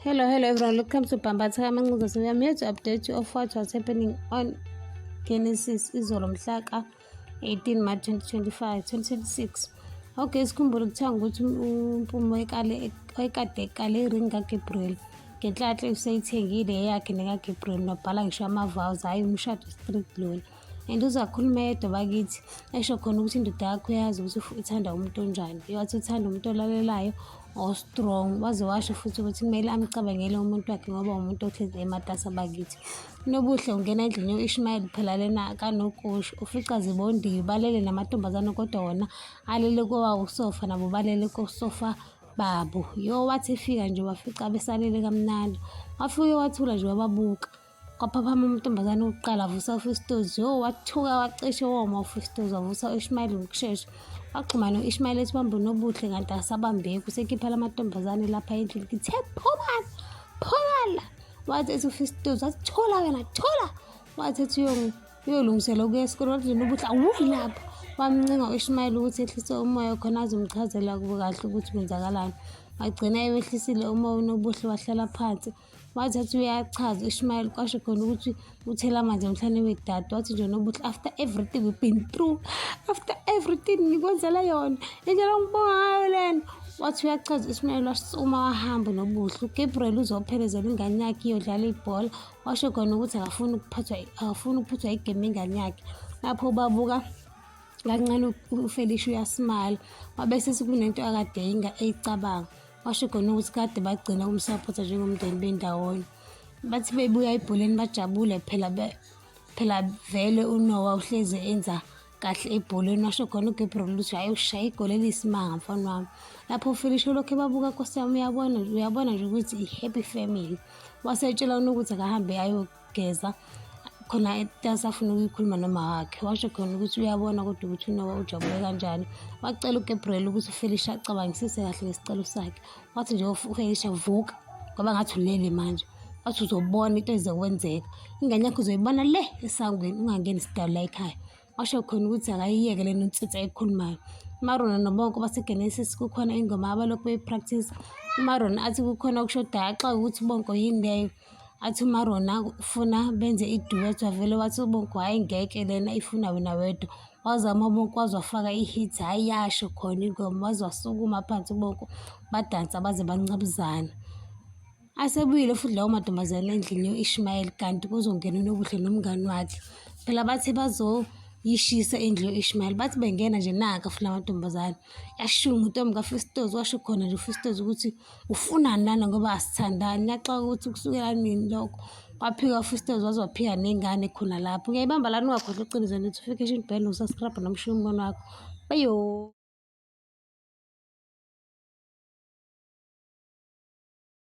Hello, hello everyone. Welcome to Bambatha Kamancuza. So we are here to update you of what was happening on Genesis izolo mhla ka 18 March 2025 2026. Okay, sikhumbule kuthiwa ukuthi umpumo ekale ekade ekale iring kaGabriel. Ngenhlanhla useyithengile eyakhe nekaGabriel nobhala ngisho ama-vows hhayi umshado straight lona. and uzakhuluma yedwa bakithi esho khona ukuthi indoda yakho yazi ukuthi ithanda umuntu onjani iwathi uthanda umuntu olalelayo o-strong waze washo futhi ukuthi kumele amcabangele umuntu wakhe ngoba umuntu ohlezi ematasa bakithi nobuhle ungena endlini yo-ishmayeli phela lena kanokusho ufica zibondiwe balele namantombazane kodwa wona alele kowawo usofa nabo balele kosofa babo yo wathi efika nje wafica besalele kamnandi wafike wathula nje wababuka kwaphaphama umuntombazane wokuqala avusa ufistoz yo wathuka wacishe woma ufistoz wavusa u-ishmayeli ngokushesha waxhumana u-ishmayeli esibambe nobuhle kanti asabambeki usekhipha la mantombazane lapha endlini kithe phumana phumana wathi ethi ufistoz wathi thola wena thola wathi ethi uyolungisela ukuya esikoleni wathi lona ubuhle awuyi lapha wamncenga u-ishmayeli ukuthi ehlise umoya khona azomchazela kubo kahle ukuthi kwenzakalani wagcina ewehlisile uma unobuhle wahlala phansi wathi athi uyachaza ishumayeli kwasho khona ukuthi uthela amanzi emhlane wedade wathi nje nobuthi after everything we've been through after everything ngikwenzela yona indlela ngibonga ngayo lena wathi uyachaza ishumayeli washo uma wahambe nobuhle ugabriel uzophelezela ingane yakhe iyodlala ibhola washo khona ukuthi akafuni ukuphathwa akafuni ukuphuthwa igame ingane yakhe lapho ubabuka kancane ufelisha uyasimala wabe sesikunento akade eyicabanga washo khona ukuthi kade bagcina ukumsapotha njengomndeni bendawonye bathi bebuya ebholeni bajabule phela phela vele unowa uhleze enza kahle ebholeni washo khona ugabriel ukuthi hhayi ushaya igoli eliyisimanga mfana wami lapho ufilishe lokhu ebabuka nkosi yami uyabona uyabona nje ukuthi i-happy family wasetshela ukuthi akahambe ayo ukugeza khona asafuna ukuyikhuluma nomawakhe washo khona ukuthi uyabona kodwa ukuthi unowa ujabule kanjani wacela ugabriel ukuthi ufelisha acabangisise kahle ngesicelo sakhe wathi nje ufelisha vuka ngoba ngathi ulele manje wathi uzobona into ezokwenzeka ingane yakho uzoyibona le esangweni ungangeni sidala ekhaya washo khona ukuthi akayiyeke le nonsense ayikhulumayo umaron nobonke basegenesis kukhona ingoma abalokhu beyipractice umaron athi kukhona okushodayo axake ukuthi ubonke yini leyo athi umaron ufuna benze iduet wavele wathi ubonke hhayi ngeke lena ifuna wena wedwa wazama ubonke waze wafaka ihit hhayi yasho khona ingoma waze wasukuma phansi ubonke badansa baze bancabuzana Asebuyile futhi lawo mantombazane endlini yo-Ishmayeli kanti kuzongena uNobuhle nomngani wakhe. Phela bathe bazoyishisa indlu yo-Ishmayeli. Bathi bengena nje naka futhi la mantombazane. Yashiwo nguNtombi kaFistozi washo khona nje uFistozi ukuthi ufunani lana ngoba asithandani. Ngiyaxoka ukuthi kusukela nini lokho. Waphika uFistozi waze waphika nengane khona lapho. Ngiyayibamba lana ungakhohlwa uqiniso lethu. Ufike shini bhele usaskrabha nomshiya umbono wakho. Bayo.